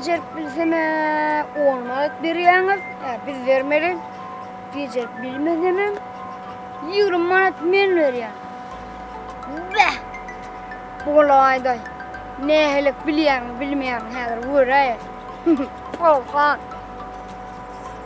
becerip bilseme on manat berýäňiz, e, biz bermeli. Becerip bilmesemem 20 manat men berýän. Bäh! Bolaýda. Nähili bilýäň, bilmeýäň häzir göräýer. Olha.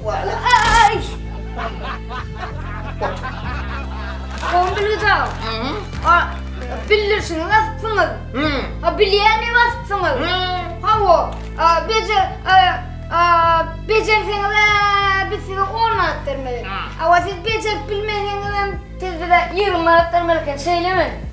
Walaý! Oň bilgida. Ha, bildirişiňi basypsyňyz. Ha, bilýäni basypsyňyz. Hawa, a, beje, a, a, bejerseňiz, a, biz size on manat bermeli. Hawa, siz bejerip bilmeseňizem, siz bize ýigrimi manat bermeli eken, şeýlemi?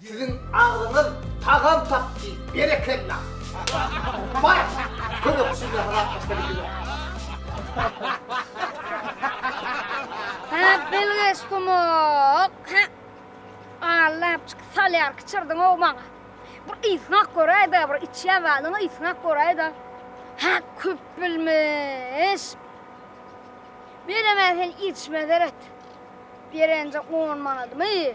Siziň agzyňyz tagam tapdy, berekella! Bar, kömekçi bilen ylalaşyp Hep bilgeş gumuk, he? Allap çyk salýar kiçirdiň-ow maňa. Bir ysňak göräý-de, bir içýän zadyňy ysňak göräý-de. Hä, köp bilmiş. Beremän sen içme seret. Berenje on manadymy?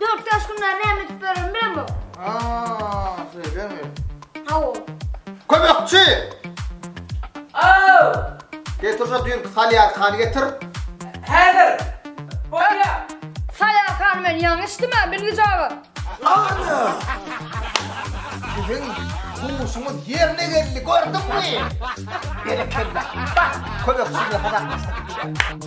Dört yaş günler näme edip ýören bilemok. Aa, söyleme. Hawo. Kömekçi! Aw! Getir şu düýnki salýarkany getir. Häzir. Bolýa. Salýarkany men ýaňy içdimä, bilgije aga. Ana! Siziň huşuňyz ýerine geldi, gördüňmi? Berekella. Bak, kömekçi bilen hazartlaşsak.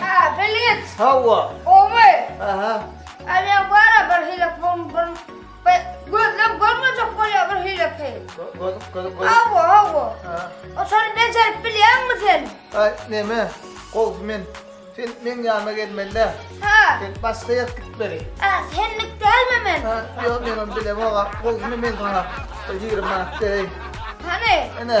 Haa Belent. Hawa. Omy. Aha. Alýa bara bir hile pom bir bir gözlem görmejek bolýar bir hile ki. Göz göz göz. Hawa hawa. Ha. O şony bejerip bilýärmi sen? Ay neme? Goz men. Sen men ýanyma gelmeli. Ha. Sen başga ýer git beri. Ha senlik dälmi men? Ha, ýok men onu bilemok. Goz men men sana. Ýigrimi manat bereyim. Hany? Ene.